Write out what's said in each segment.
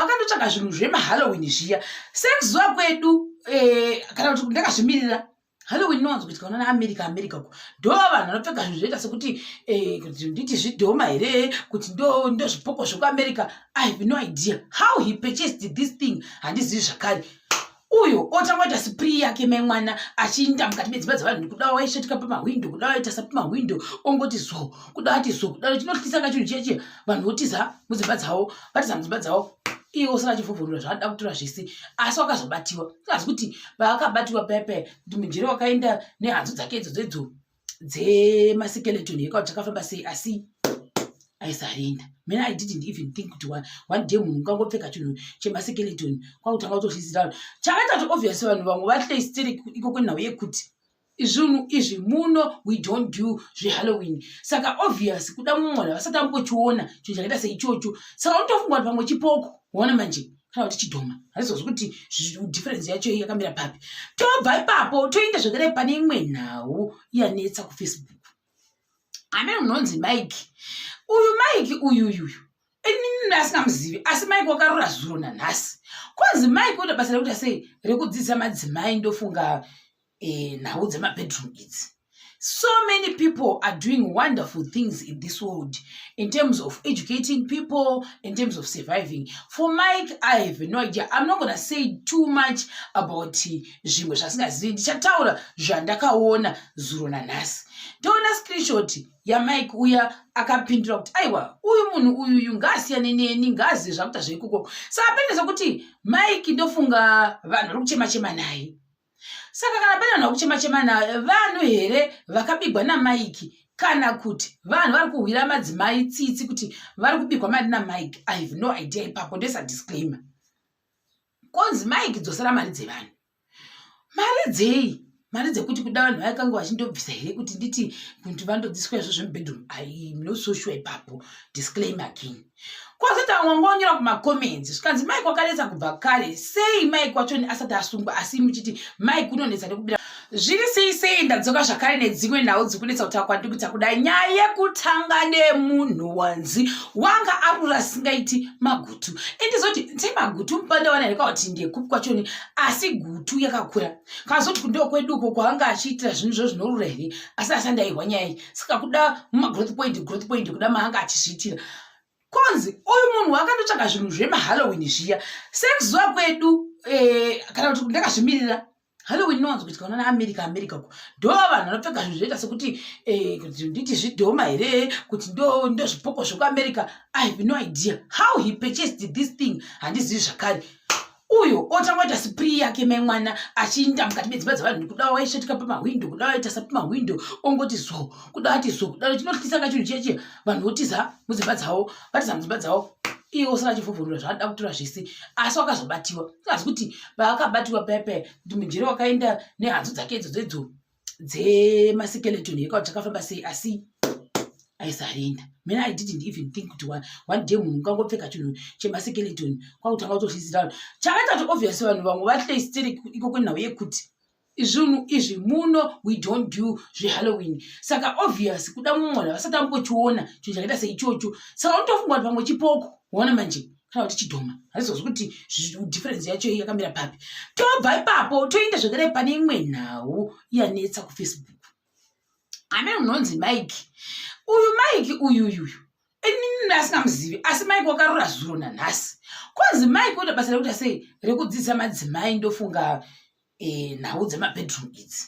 vakandotsvaga zvinhu zvemahalloween zviya sekuziva kwedu eh, kana kuti ndakazvimirira halloween inowanzo kuitika unana america america ko ndo vanhu vanopfeka zvinhu zvoita sekuti eh, kuti nditi zvidhoma here kuti ndo zvipoko zvekuamerica i have no idea how he purchased this thing handizivi zvakare uyu otanga kuita spri yake mai mwana achiinda mukati medzimba dzevanhu ndikuda waisvetika pamahwindo kuda waita sa pamahwindo ongoti zo kuda ati zo kuda chinotyisa ka chinhu cheche vanhu votiza mudzimba dzavo vatiza mudzimba dzavo iye usina chivhuvhurura zvaada kutura zvese asi wakazobatiwa asi kuti paakabatiwa paya paya kuti mujere wakaenda nehanzu dzake idzo dzedzo dzemasikeleton yekwa dzakafamba sei asi aisarenda mene i didn't even think kuti one day munhu ungangopfeka chinhu chemasikeleton kwakutanga kutozvizira vanhu chakatatu obvious vanhu vamwe vahlestere iko kwenhau yekuti izvinhu izvi muno we don't do zvehalloween saka obvious kuda mumwe vanhu vasati ambochiona chinhu chakaita seichocho saka unotofunga kuti pamwe chipoko ona manje kana kuti chidhoma hazvizozi kuti difference yacho yakamira papi tobva ipapo toenda zvekare pane imwe nhau yanetsa kufacebook amene unonzi mike uyu mike uyuyuyu inini asingamuzivi asi mike wakarora zuro nanhasi kwanzi mike oda basa rekuita sei rekudzidzisa madzimai ndofunga eh, nhau dzemabedroom idzi so many people are doing wonderful things in this world in terms of educating people in terms of surviving for mike i have no idea i'm not gonna say too much about zvimwe zvasingazivi ndichataura zvandakaona zuro nanhasi ndoona screenshot yamike uya akapindura kuti aiwa uyu munhu uyu uyu ngaasiyane neni ngaazive zvakuita zveikoko saka pende zvekuti mike ndofunga vanhu vari kuchema chema naye saka kana pane vanhu vakuchema chema na vanhu here vakabigwa namaiki kana kuti vanhu vari kuhwira madzimai tsitsi kuti vari kubigwa mari namaiki i have no idea ipapo ndoisa disclaimer konzi maiki dzosera mari dzevanhu mari dzei mari dzekuti kuda vanhu vaikange vachindobvisa here kuti nditi kuti vandodziswa izvo zvemubedroom i am not so sure ipapo disclaimer king kwazoti vamwe vanga vanyora kumacomments zvikanzi mike wakanetsa kubva kare sei mike wacho asati asungwa asi muchiti mike unonetsa nekubira zviri sei sei ndadzoka zvakare nedzimwe nhau dzikunetsa kutaura kwandi kuita kuda nyaya yekutanga nemunhu wanzi wanga arura singaiti magutu endizoti nse magutu mupandawana here kauti ndekupi kwachoni asi gutu yakakura kazoti kundoo kweduko kwavanga achiitira zvinhu zvo zvinorura here asi asandaihwa nyaya iyi saka kuda mumagrowth point growth point kuda maanga achizviitira konzi uyu munhu wakandotsvaga zvinhu zvemahalloween zviya sekuzuva kwedu eh, kana kuti ndakazvimirira halloween inowanzo kuitika unana america america ko ndo vanhu vanopfeka zvinhu zvoita sekuti eh, kuti nditi zvidhoma here kuti ndozvipoko zvekuamerica i have no idea how he purchased this thing handizivi zvakare uyu otanga kuita siprii yake mai mwana achiinda mukati medzimba dzevanhu ndikuda waisvetika pamahwindo kuda waita sapamahwindo ongoti zo kuda ati zo kuda chinotyisa kachinhu cheche vanhu votiza mudzimba dzavo vatiza mudzimba dzavo iye osara achivhuvhurura zvaada kutora zvese asi wakazobatiwa asi kuti vaakabatiwa paya paya kuti mujere wakaenda nehanzu dzake idzodzo idzo dzemaskeleton here kauti chakafamba sei asi aisarenda mene i didn't even think kuti one day munhu ungangopfeka chinhu chemaskeleton kwakutanga kutozvizira vanhu chakaita kuti obvious vanhu vamwe vahlestere iko kwenhau yekuti izvinhu izvi muno we don't do zvehalloween saka obvious kuda mumwana vasati ambochiona chinhu chakaita seichocho saka unotofunga kuti pamwe chipoko ona manje kana kuti chidhoma hazvizozi kuti difference yacho yakamira papi tobva ipapo toenda zvekare pane imwe nhau yanetsa kufacebook ane unonzi mike uyu mike uyuyuyu inini asingamuzivi asi mike wakarora zuro nanhasi kwanzi mike oda basa rekuita sei rekudzidzisa madzimai ndofunga eh, nhau dzemabedroom idzi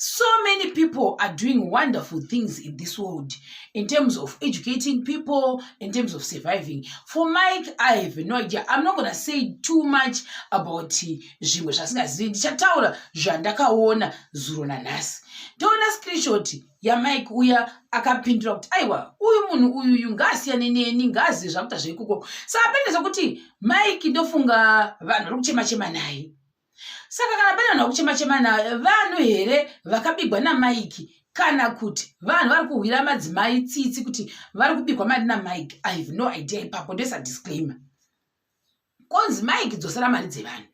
so many people are doing wonderful things in this world in terms of educating people in terms of surviving for mike i have no idea i'm not gonna say too much about zvimwe zvasingazivi ndichataura zvandakaona zuro nanhasi ndoona screenshot yamike uya akapindura kuti aiwa uyu munhu uyu uyu ngaasiyane neni ngaazive zvakuita zveikoko saka pende zvekuti mike ndofunga vanhu vari kuchema chema naye saka kana pane vanhu vakuchema chema na vanhu here vakabigwa namaiki kana kuti vanhu vari kuhwira madzimai tsitsi kuti vari kubigwa mari namaiki i have no idea ipapo ndoisa disclaimer konzi maiki dzosera mari dzevanhu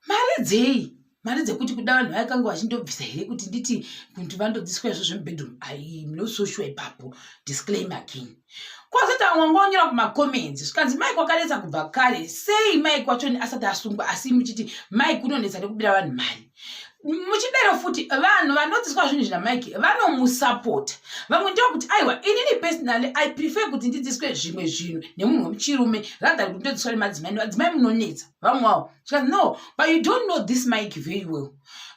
mari dzei mari dzekuti kuda vanhu vayakange vachindobvisa here kuti nditi kuti vandodziswa izvo zvemubedroom i am not so sure ipapo disclaimer again kwazotangwa ngonyora kumacomments zvikanzi mike wakanetsa kubva kare sei mike wachoni asati asungwa asi muchiti mike unonetsa nekubira vanhu mari muchidero futi vanhu vanodzidziswa zvinhu zvina mike vanomusapota vamwe ndokuti aiwa inini personally i prefer kuti ndidzidziswe zvimwe zvinhu nemunhu wemuchirume rather kuti ndodzidziswa nemadzimai nemadzimai munonetsa vamwe wavo chikanzi no but you don't know this mike very well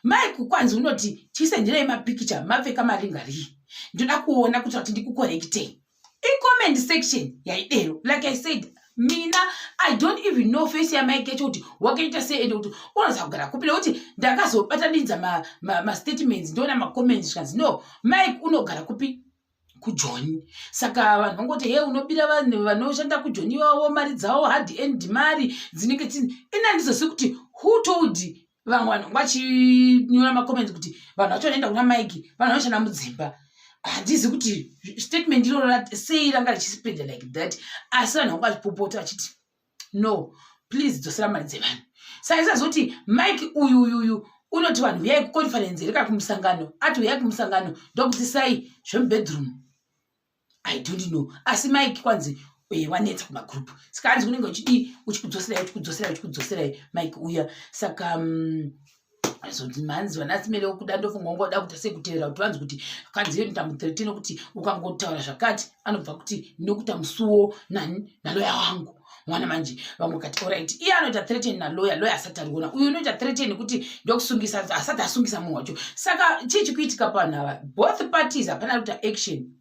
mike kwanzi unoti tisendirei mapikicha mapfeka maringarii ndoda kuona kuti vati ndikukorektei icomment section yaidero like i said mina i don't even know face yamai kecho kuti wakaita sei ende kuti unoziva kugara kupi nekuti ndakazobatanidza mastatements ma, ma ndoona macomments zvikanzi no mike unogara kupi kujoni saka vanhu vangoti he unobira vanhu vanoshanda kujoni ivavo mari dzavo hard end mari dzinenge tini ini handizosivi kuti who told vamwe vanhu vachinyora macomments kuti vanhu vacho vanoenda kuna mike vanhu vanoshanda mudzimba handizi kuti statement iroro sei ranga richisipenda like that asi vanhu vanga vachipopota vachiti no please dzosera mari dzevanhu saka isazoti mike uyu uyu uyu unoti vanhu huyai kuconference here kana kumusangano ati huyai kumusangano ndokutisai zvemubedroom i don't know asi mike kwanzi eh, wanetsa kumagroup saka hanzi unenge uchidii uchikudzoserai uchikudzoserai uchikudzoserai mike uya saka mm, zvomanzi vanasimere okuda ndofunga ungoda kuita sekuteerera kuti vanzi kuti kanziyo ndamutherete nokuti ukangotaura zvakati anobva kuti ndinokuita musuwo nani naloya wangu mwana manje vamwe kati orit iye anoita threaten naloya loya asati ariona uyu unoita threaten kuti ndokusungisa asati asungisa munhu wacho saka chii chikuitika panhu ava both parties hapana kuita action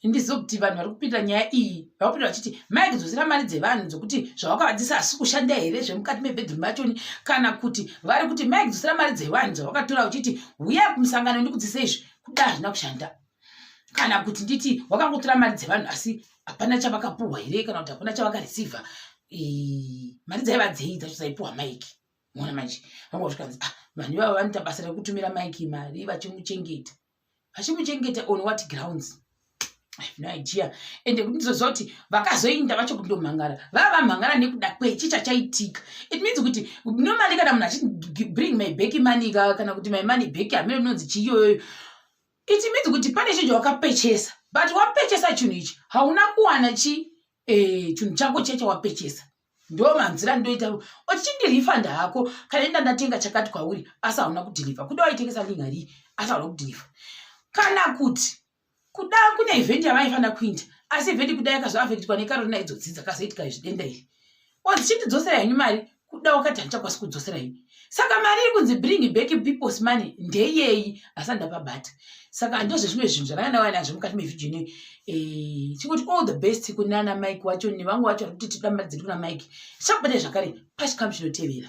ndizive kuti vanhu vari kupinda nyaya iyi vakupinda vachiti mai kudzosera mari dzevanhu dzokuti zvavakavadzisa asi kushanda here zvemukati mebedroom vachoni kana kuti vari kuti mai kudzosera mari dzevanhu dzavakatora uchiti huyai kumusangano ndikudzise izvi kuda hazvina kushanda kana kuti nditi wakangotora mari dzevanhu asi hapana chavakapuhwa here kana kuti hapana chavakareceiva mari dzaiva dzei dzacho dzaipuhwa mike mona manje vanga zvikanzi ah, vanhu ivavo vanoita basa rekutumira mike mari vachimuchengeta vachimuchengeta on what grounds no idea ende kuti ndizoziva kuti vakazoinda vacho kundomhangara vava vamhangara nekuda kwechi chachaitika it means kuti normally kana munhu achibring my back money kana kuti my money back hameno inonzi chiiyoyoyo it means kuti pane chinhu chawakapechesa but wapechesa chinhu ichi hauna kuwana chi eh, chinhu chako chiya chawapechesa ndo manzira ndoita uchindirifanda hako kana inda ndatenga chakati kwauri asi hauna kudhiliva kuda waitengesa lingari asi hauna kudhiliva kana kuti kuda kune event yavaifanira kuinda asi event kuda yakazovafekitwa nekarona idzodzidza kazoitika izvidenda iri or dzichitidzosera henyu mari kuda wakati handichakwasi kudzosera ini saka mari iri kunzi bring back peoples money ndeyeyi asati ndapabata saka ndozve zvimwe zvinhu zvavana vana nazvo mukati mevhidhio inoyi eh, chikuti all the best kunana mike wacho nevamwe vacho vari kuti tida mari dziri kuna mike tichakubata zvakare pachikamu chinotevera